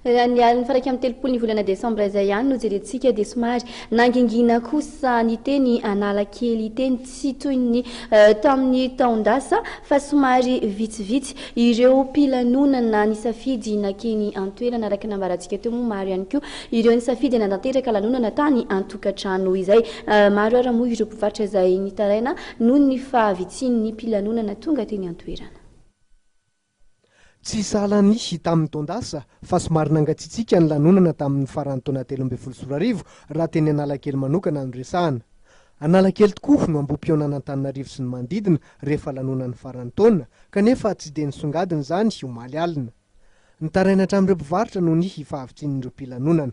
Raha ny alin'ny faha-iraika amby telopolo ny volana desambra izay ihany no jerentsika dia somary nangingina kosa ny teny Analakely hiteny tsy toy ny tamin'ny taon-dasa fa somary vitsivitsy ireo mpilanonana nisafidy nankeny an-toerana. Araka ny nambarantsika teo moa maro ihany koa ireo nisafidy hanatanteraka lanonana tany an-tokantrano izay maro ary moa ireo mpivarotra izay nitaraina noho ny fahavitsian'ny mpilanonana tonga teny an-toerana. Tsy sahala ny hita amin'ny taon-dasa fa somary nangatsiatsiaka ny lanonana tamin'ny faran'ny taona telo ambin'ny folo sy roa arivo raha teny Analakely manokana no resahana. Analakely tokoa no ambohim-pionan'Antananarivo sy ny manodidina rehefa lanonan'ny faran'ny taona kanefa tsy dia nisongadina izany omaly alina. Nitaraina hatramin'ireo mpivarotra noho ny fahavitsian'ireo mpilanonana.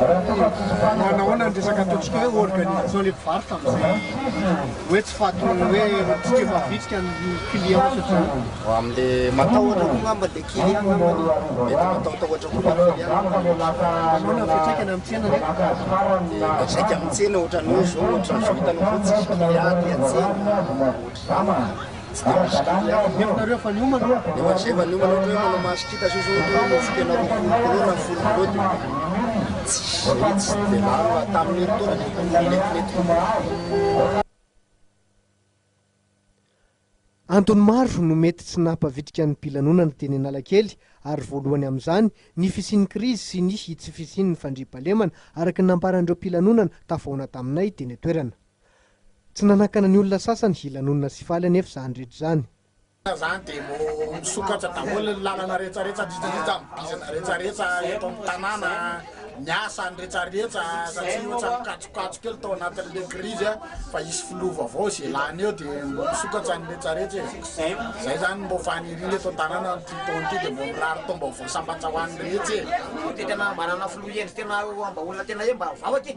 Manahoana ny resaka ataontsika hoe organisation ilay mpivarotra amin'izay hoe tsy fahatony hoe tsy tia mavitrika ny client satria. Amin'ilay matahotra koa angamba ilay client angambany e, mety matahotahotra koa ilay client ny mpivarotra. Manahoana ny fiantraikany amin'ny tsena nefa? Dia miantraika amin'ny tsena ohatran'ny hoe izao, ohatran'izao hitanao izao tsisy client aty an-tsena, ohatran'izany. Antony maro no mety tsy nampavitrika ny mpilanonana teny Analakely ary voalohany amin'izany ny fisian'ny krizy sy ny tsy fisian'ny fandriampahalemana, araka ny nambaran'ireo mpilanonana tafahoana taminay teny an-toerana. Tsy nanakana ny olona sasany hilanonana sy faly anefa izany rehetra izany. Izany dia vao misokatra daholo ny lalana rehetrarehetra, indrindraindrindra ny bizina rehetrarehetra eto amin'ny tanàna, ny asa, ny rehetrarehetra, satria ohatra mikajokajy kely tao anatin'ilay krizy fa hisy filoha vaovao izay lany eo dia vao misokatra ny rehetrarehetra e! Izay izany no mba ho faniriana eto an-tanàna amin'ity taona ity dia vao mirary taom-baovao sambatra ho an'ny rehetra e! Dia tena mba hanana filoha hendry tena mba olona tena hoe mba vavaka e!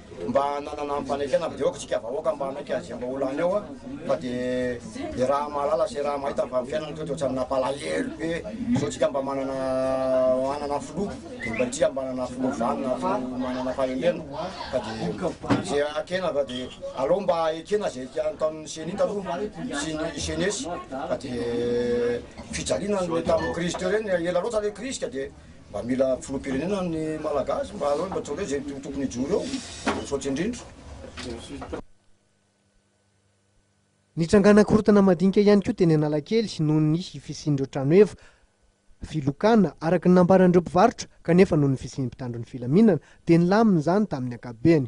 Mba nanana ampanekena be ok tsika vahoaka mba hanaiky azy mba olany eo a fa de de raha mahalala sy raha mahita fa ny fiainana to de otrany napalahelo be zao tsika mba manana manana filoha de mba tsika mba manana filoha vanona fa manana fahendrena fa de ze akena fa de aleo mba ekena ze tiany tamin'ny ceni taloha sy ny jeunesse fa de fijaliana ny tamin'ny crise teo reny ela loatra le crise ka de Mba mila filoham-pirenena ny Malagasy mba aleo mba tsoleo izay tokony hijoro eo, misaotra indrindra. Nitrangana korontana madinika ihany koa teny Analakely noho ny fisian'ireo trano efa filokana, araka ny nambaran'ireo mpivarotra, kanefa noho ny fisian'ny mpitandro ny filaminana dia nilamina izany tamin'ny ankapobeny.